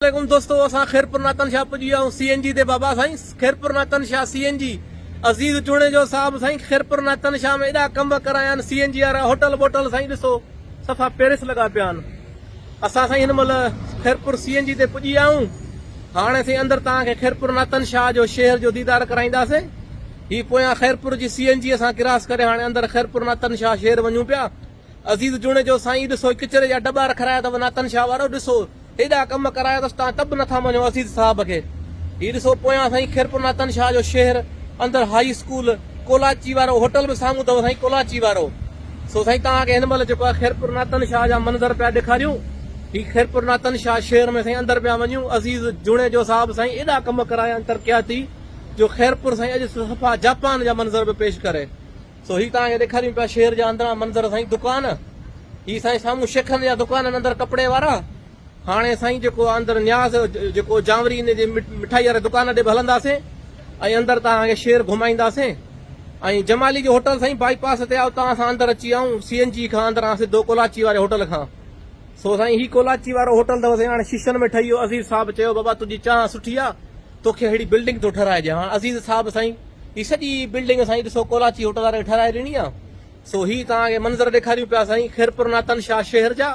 عليڪم دوستو اسان خيرپور ناتن شاهه پڄي ويا آهيون سي اين جي تي بابا سائين خيرپور ناتن شاهه سي اين جي عزيز جوڻيجو صاحب سائين خيرپور ناتن شاهه ۾ ايڏا ڪنب ڪرايا آهن سي اين جي وارا هوٽل بوٽل سائين ڏسو صفا پيرس لڳا پيا آهن اسان سائين هن مهل خيرپور سي اين جي تي پڄي آهيون هاڻي سائين اندر توهان کي خيرپور ناتن شاهه جو شهر جو ديدار ڪرائينداسين هي پويان خيرپور جي سي اين جي اسان ڪراس ڪري هاڻي اندر خيرپور ناتن شاهه شهر وڃون پيا عزيز جوڻيجو، سائين ڏسو هي ڪچري جا ڊٻا رکرايا اٿو ناتن شاهه وارو، ڏسو هيڏا ڪم ڪرايا اٿس تان ته به نٿا مڃو عزيز صاحب کي، هي ڏسو پويان سائين خيرپور ناتن شاهه جو شهر اندر هائي اسڪول، ڪولاچي وارو هوٽل به سامهون اٿو سائين ڪولاچي وارو، سو سائين توهان کي هن مهل جيڪو آهي خيرپور ناتن شاهه جا منظر پيا ڏيکاريون، هي خيرپور ناتن شاهه شهر ۾ سائين اندر پيا وڃون، عزيز جوڻيجو صاحب سائين ايڏا ڪم ڪرايا آهن ترقياتي جو خيرپور سائين اڄ صفا جاپان جا منظر به پيش ڪري. سو هي توهان کي ڏيکاريون پيا شهر جا اندران منظر سائين دڪان هي سائين سامهون شيخن جا دڪان اندر ڪپڙي وارا هاڻي سائين جيڪو اندر نياز جيڪو جانوري ان جي مٺائي واري دڪان ڏي به هلنداسين ۽ اندر توهان کي شهر گهمائينداسين ۽ جمالي جو هوٽل سائين بائي پاس تي آهي اتان اسان اندر اچي آئون سي اين جي کان اندران سڌو ڪولاچي واري هوٽل کان سو سائين هي ڪولاچي وارو هوٽل اٿو سائين هاڻي شيشن ۾ ٺهي ويو عزيز صاحب چيو بابا تنهنجي چانهه سٺي آهي توکي اھڙي بلڊنگ ٿو ٺھرائي ڏيان. عزيز صاحب سائين ھي سڄي بلڊنگ سائين ڏسو ڪولاچي ھوٽل واري ٺھرائي ڏني آ سو ھي توھان کي منظر ڏيکاريون پيا سائين خيرپور ناتن شاھ شھر جا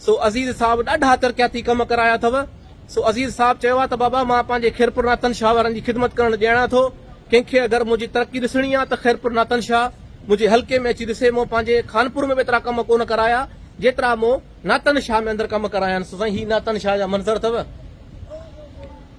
سو عزيز صاحب ڏاڍا ترقياتي ڪم ڪرايا اٿو سو عزيز صاحب چيو آ ته بابا مان پنھنجي خيرپور ناتن شاھ وارن جي خدمت ڪرڻ ڄاڻان ٿو ڪنھن کي اگر منھنجي ترقي ڏسڻي آ ته خيرپور ناتن شاھ منھنجي حلقي ۾ اچي ڏسي مون پنھنجي خانپور ۾ به ايترا ڪم ڪونه ڪرايا جيترا مون ناتن شاھ ۾ اندر ڪم ڪرايا آھن سو سائين ھي ناتن شاھ جا منظر اٿو.